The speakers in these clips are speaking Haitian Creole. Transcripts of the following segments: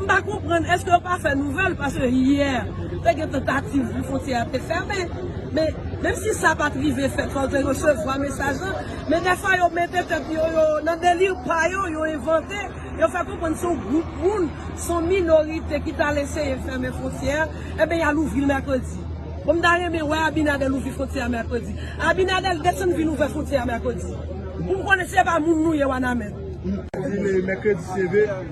M pa konprann eske yo pa fè nouvèl paske yè te gen tantativ pou fontyè a te fèmen men menm si sa pat rive fèt fòk yo resevwa mesaj lan men dèfwa yo mete tèt yo yo nan deli pa yo yo envante yo fè konprann se yon gwoup moun se yon minorite ki tal eseye fèmen fontyè a enben yal ouvril mèkredi bon m ta renmen wè Abinader ouvri fontyè a mèkredi Abinader desann vin ouvè fontyè a mèkredi pou m konnen se pa moun nou ye wanament.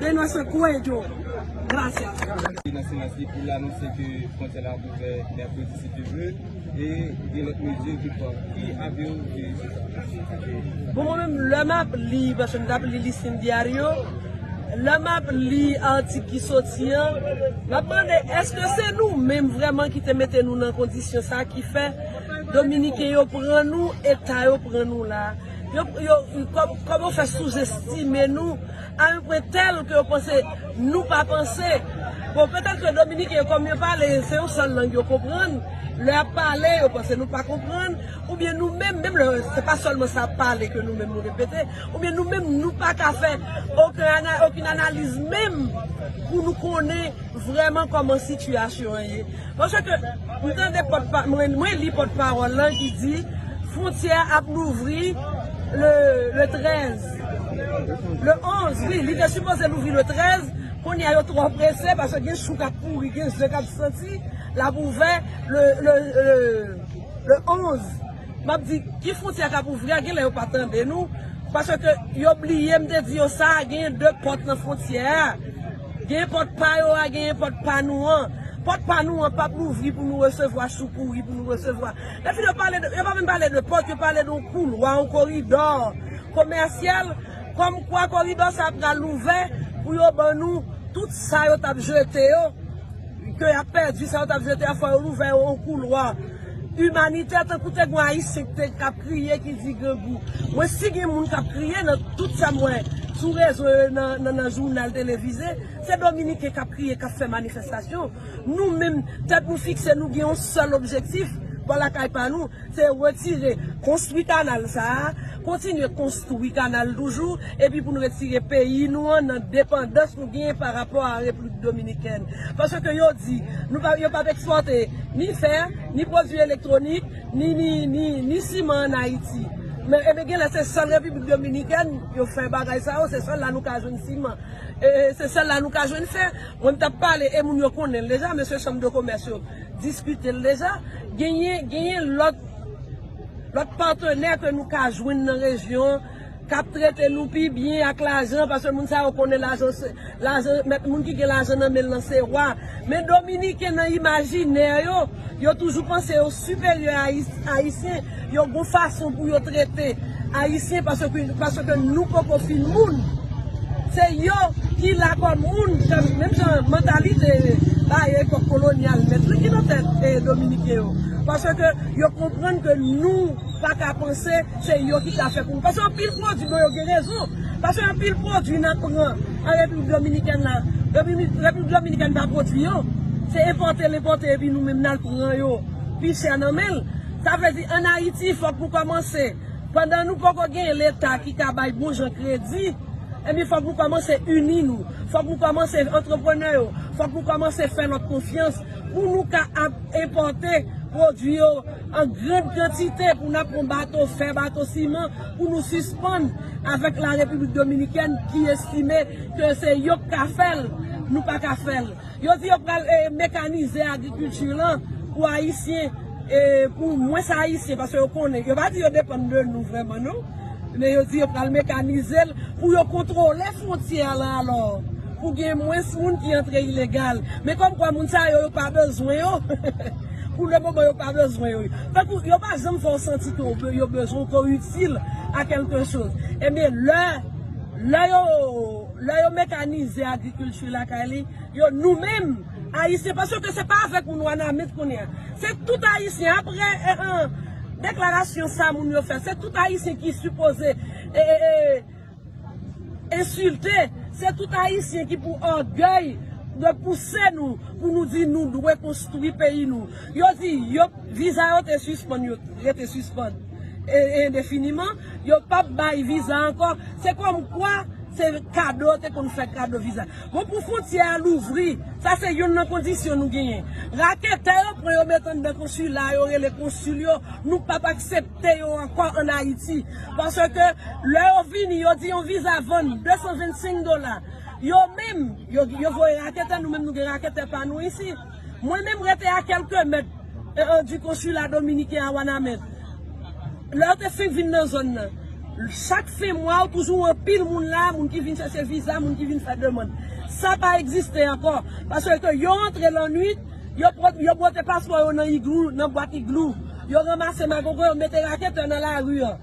De nuestro cuello. Gracias. Se nan silans li pou l anonse ke fwontyè la ap ouvè mèkredi si Dye vle e gen lòt mezi l te pran. Ki avi w de sitiyasyon sa? Bon mwen menm lè m ap li, paske m t ap li Listin Diario, lè m ap li atik ki soti an, m ap mande èske se nou menm vrèman ki te mete nou nan kondisyon sa ki fè Dominiken yo pran nou eta yo pran nou la? Kòman yo fè souzestime nou? Al pwen tèl ke yo panse nou pa panse. Bon, petèt ke Dominiken yo kòm yo pale, se yon sèl lang yo konprann, lè yap pale yo panse nou pa konprann, oubyen nou menm, menm lè se pa sèlman sa yap pale ke nou menm nou repete, oubyen nou menm nou pa ka fè okenn analiz menm pou nou konnen vrèman kòman sitiyasyon an ye. Paske ke m tande pòt pa, mwen li pòt pawòl lan ki di fwontyè ap louvri le 13. Le 11 wi li te sipoze louvri le 13 kounye a yo tro prese paske gen chou kap mouri gen ze kap soti lap ouvè le 11 map di ki frontyè kap ouvri a genlè yo pa tande nou paske yo bliye m te di yo sa gen 2 pòt nan frontyè a gen pòt pa yo a gen pòt pa nou an pòt pa nou an pap louvri pou nou resevwa chou pouri pou nou resevwa epi yo pa menm pale de pòt yo pale de yon koulwa yon koridò komèsyal kòm kwa koridò sa pral ouvè pou yo ban nou tout sa yo tap jete yo ke yap pèdi sa yo tap jete a fò yo louvè yo yon koulwa imanitè tankou te gwen ayisyen ki te kap kriye ki di grangou mwen si gen moun kap kriye nan tout sa m wè sou rezo yo nan jounal televize se dominiken kap kriye kap fè manifestasyon nou menm tèt nou fikse nou gen yon sèl objektif bò lakay pa nou. Se retire, konstwi kanal sa a, kontinye konstwi kanal toujou, epi pou nou retire peyi nou an nan depandans nou genyen pa rapò a Repiblik Dominikèn. Paske yo di, nou pa, yo pa p ekspòte ni fè, ni pwodui elektwonik, ni, ni, ni, ni siman an Ayiti. Men, enben gen lè se sèl Repiblik Dominikèn yo fè bagay sa yo, se sèl la nou ka jwenn siman. E, e, se sèl la nou ka jwenn fè. Mwen m t ap pale, e moun yo konnen l deja, mesye chanm de komès yo. diskite l deja, genyen genyen lòt lòt patenè ke nou ka jwenn nan rejyon an k ap trete nou pi byen ak lajan paske moun sa yo konnen lajan se lajan mèt moun ki gen lajan nan men l lan se wa men dominiken nan imajinè yo yo toujou panse yo siperyè ayis ayisyen Yo gon fason pou yo trete ayisyen paske nou poko fin moun se yo ki la kòm moun menm jan mantalite bay epòk kolonyal mèt li ki nan tèt dominiken yo paske yo konprann ke nou paka panse se yo ki ka fè pou nou paske anpil pwodwi bon yo gen rezon paske anpil pwodwi nan pran an repiblik dominikèn la repiblik dominikèn pa pwodwi yo se enpòte l enpòte epi nou menm nan pran yo. pi chè nan men l. Sa vle di an Ayiti fòk nou kòmanse pandan nou poko gen leta ki ka bay bon jan kredi ebyen fòk nou kòmanse ini nou, fòk nou kòmanse antreprenè yo, fòk nou kòmanse fè lòt konfyans pou nou ka ap enpòte pwodui yo an gran kantite pou n ap pran bato fè, bato siman pou nou sispann avèk la Repiblik Dominikèn ki estime ke se yo k ka fè l nou pa ka fè l. Yo di yo pral mekanize agrikilti lan pou ayisyen, pou mwens ayisyen paske yo konnen, yo pa di yo depann de nou vrèman non, men yo di yo pral mekanize l pou yo kontwole fwontyè a lan alò pou gen mwens moun ki antre ilegal. Men kòm kwa moun sa yo yo pa bezwen yo pou le moman yo pa bezwen yo. Tankou yo pa janm fè w santi ke w yo bezwen w, ke w itil a kèlke choz. Ebyen lè, lè yo. Lè yo mekanize agrikilti lakay li yo nou menm ayisyen paske ke se pa avèk moun wanamint kounye a se tout ayisyen aprè deklarasyon sa moun yo fè se tout ayisyen ki sipoze ensilte se tout ayisyen ki pou ògèy dwe pouse nou pou nou di nou dwe konstwi peyi nou yo di yo viza yo te sispann yo rete sispann. endefiniman, yo pap bay viza ankò, se kòm kwa se kado yo te konn fè kado viza. Bon pou fwontyè a louvri, sa se youn nan kondisyon nou genyen. Raketè yo pran yo met anndan konsila yo rele konsil yo, nou pap aksepte yo ankò an Ayiti. Paske lè yo vini yo di yon viza vann 225 dola, yo menm yo voye raketè, nou menm nou gen raketè pa nou isi. Mwen menm rete a kelke mèt du consulat dominiken a Wanament. Lè yo te fenk vin nan zòn nan, chak fen mwa ou toujou wè anpil moun la, moun ki vin chache viza, moun ki vin fè demand. Sa pa egziste ankò, paske yo antre lannuit, yo bwote paspò yo nan iglou, nan bwat iglou, yo ranmase magogo yo mete raketè nan lari an.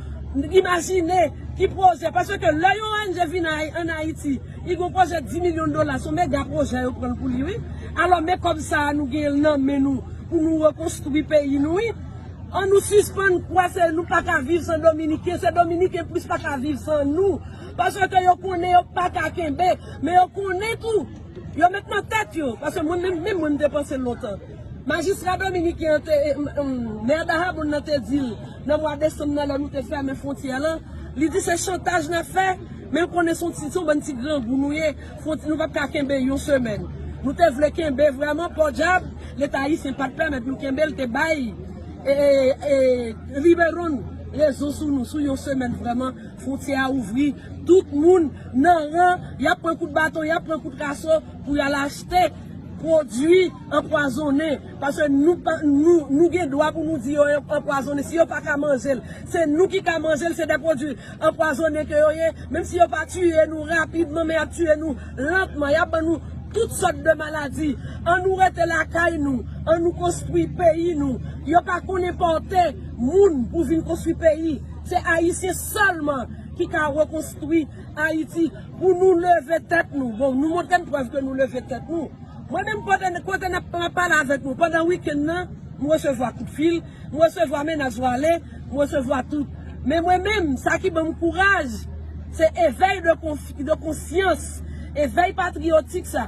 Imajine ki pwojè, paske lè yon ong vin an Ayiti, li gen yon pwojè 10 milyon dola, se yon mega pwojè yo pran pou li wi. Alò men kòb sa a nou gen nan men nou pou nou rekonstwi peyi nou wi. An nou sispann kwè se nou pa ka viv san dominiken, se dominiken plis pa ka viv san nou. Paske yo konnen yo pa ka kenbe, men yo konnen tou, yo met nan tèt yo, paske mwen menm, menm mwen m te panse lontan. Majistra dominiken an te, Mè Dahabonn nan te di l, Nan mwa desanm nan lè nou te fèmen fwontyè lan, li di se chantaj nap fè, men l konnen son ti son bann ti grangou nou ye, fwont nou pap ka kenbe yon semèn. Nou te vle kenbe vrèman pòdyab leta ayisyen pat pèmèt nou kenbe l te bay Riberon rezon sou nou sou yon semèn vrèman fwontyè a ouvri tout moun nan ran yap pran kout baton yap pran kout raso pou yal achte pwodui anpwazonnen Paske nou pa nou nou gen dwa pou nou di yo anpwazone si yo pa ka manje l se nou ki ka manje l se de pwodwi anpwazone ke yo ye menm si yo pa tiye nou rapidman men yap tiye nou lantman yap ban nou tout sòt de maladi an nou rete lakay nou an nou konstwi peyi nou yo pa konn enpòte moun pou vin konstwi peyi se ayisyen sèlman ki ka rekonstwi ayiti. Pou nou leve tèt nou. Bon, nou montre n prèv ke nou leve tèt nou. Mwen menm pandan kote nap map pale avèk nou, pandan weekend nan, m resevwa kout fil, m resevwa menas vale, m resevwa tout. Men mwen menm, sa ki ban m kouraj, se evèy de konsyans, evèy patriyotik sa.